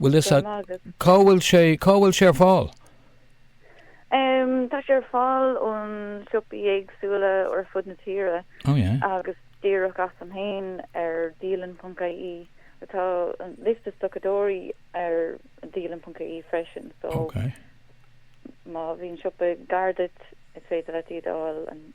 Bhuel is ea. Anois. Cá bhfuil sé, cá bhfuil sé ar fáil? Em, tá sé ar fáil ó na siopaí éagsúla ar fud na tíre Oh yeah. agus díreach asam féin ar dialann.ie. Tá an liosta stocadóirí ar dialann.ie freisin so Ok. má bhíonn siopa gar duit is féidir leat iad a fháil an-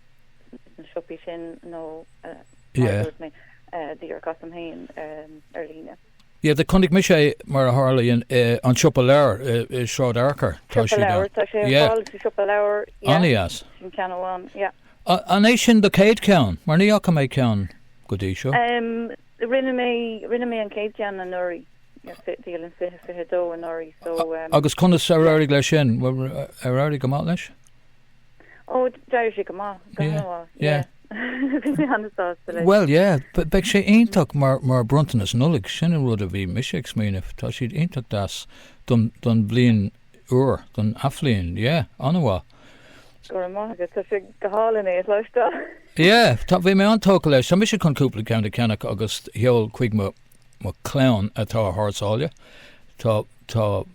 sna siopaí sin nó eh, mar Yeah. a dúirt mé, eh, díreach asam féin em, ar líne. Yeah, do chonaic mise mar a tharla in an siopa leabhar i Sráid Fhearchair. Tá siad ann. Siopa leabhar, tá sé ar fáil sa siopa leabhar. Anois. Sin ceann amháin, yeah. An é sin do céad ceann? Mar ní fhaca mé ceann go dtí seo. Rinne mé, rinne mé an céad ceann anuraidh. Dialann 20, 22 anuraidh so. Agus conas ar éirigh leis sin? Ar éirigh go maith leis? Oh d'éirigh sé go maith. Go Yeah, han-mhaith. yeah. Yeah. Bhí mé an-sásta leis. Bhuel, yeah, b- beidh sé iontach mar, mar bronntanas Nollaig. Sin an rud a bhí mise ag smaoineamh. Tá siad iontach deas don, don bhliain úr, don athbhliain. Yeah, an-mhaith. Go raibh maith agat. Tá sé go hálainn é a chloisteáil. Yeah, tá, bhí mé an-tógtha leis. Tá mise chun cúpla ceann a cheannach agus sheol chuig mo, mo chlann atá thar sáile. Tá, tá.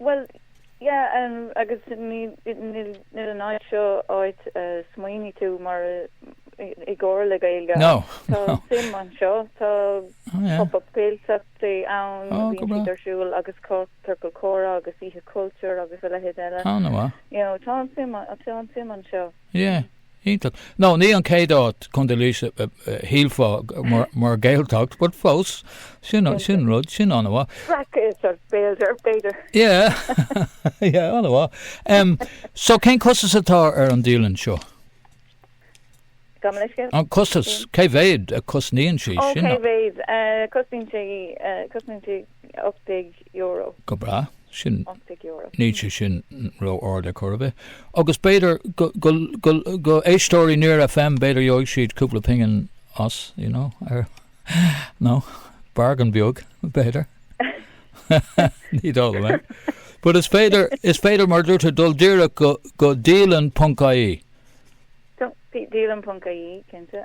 Bhuel, yeah, agus ní an áit seo áit a smaoiníonn tú mar i gcomhair le Gaeilge No, ach tá no. suim anseo, tá Oh, yeah. pop-up Gaeltachtaí ann, Oh, go bíonn breá. siad ar siúl agus tá Ciorcal Comhrá agus Oíche Cultúir agus a leithéid eile. Oh, an-mhaith. You know, tá an suim, tá an suim anseo. Yeah. Iontach. No, ní an chéad áit, Contae Laoise, a shílfeá mar Gaeltacht, but fós, sin an rud, sin an-mhaith. Breac-Ghaeltacht, b'fhéidir. Yeah, yeah, an-mhaith. So cén costas atá ar an dialann seo? Gabh mo leithscéal? An costas, cé mhéad a cosnaíonn sí? Ó, cé mhéad a cosnaíonn sí? €18. Go breá. Sin, €18. níl sé sin ró-ard ar chor ar bith. Agus b'fhéidir go, go, go, go éisteoirí Near FM b'fhéidir gheobhaidh siad cúpla pingin as, you know, ar, no, bargain beag, b'fhéidir. Ní dóigh liom é. But is féidir, is féidir, mar a dúirt tú, dul díreach go, go dialann.ie. Go dialann.ie, cinnte.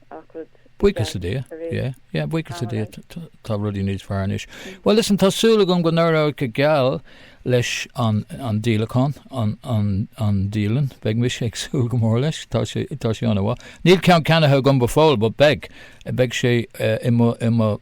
Buíochas le Dia, yeah, yeah, buíochas le Dia tá rudaí níos fearr anois. Bhuel listen, tá súil agam go n-éireoidh go geal leis an díolachán, an dialann, beidh mise ag súil go mór leis, tá sé, tá sé an-mhaith. Níl ceann ceannaithe agam go fóill but beidh, beidh sé i mo, i mo.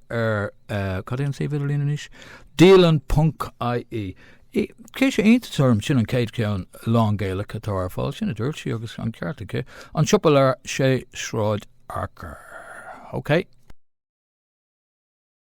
ar cad é an suíomh idirlín anois? Dialann.ie. Cuireann sé iontas orm sin an céad ceann lánGaelach atá ar fáil sin a dúirt sí agus an ceart aici, an siopa leabhar i Sráid Fhearchair. OK.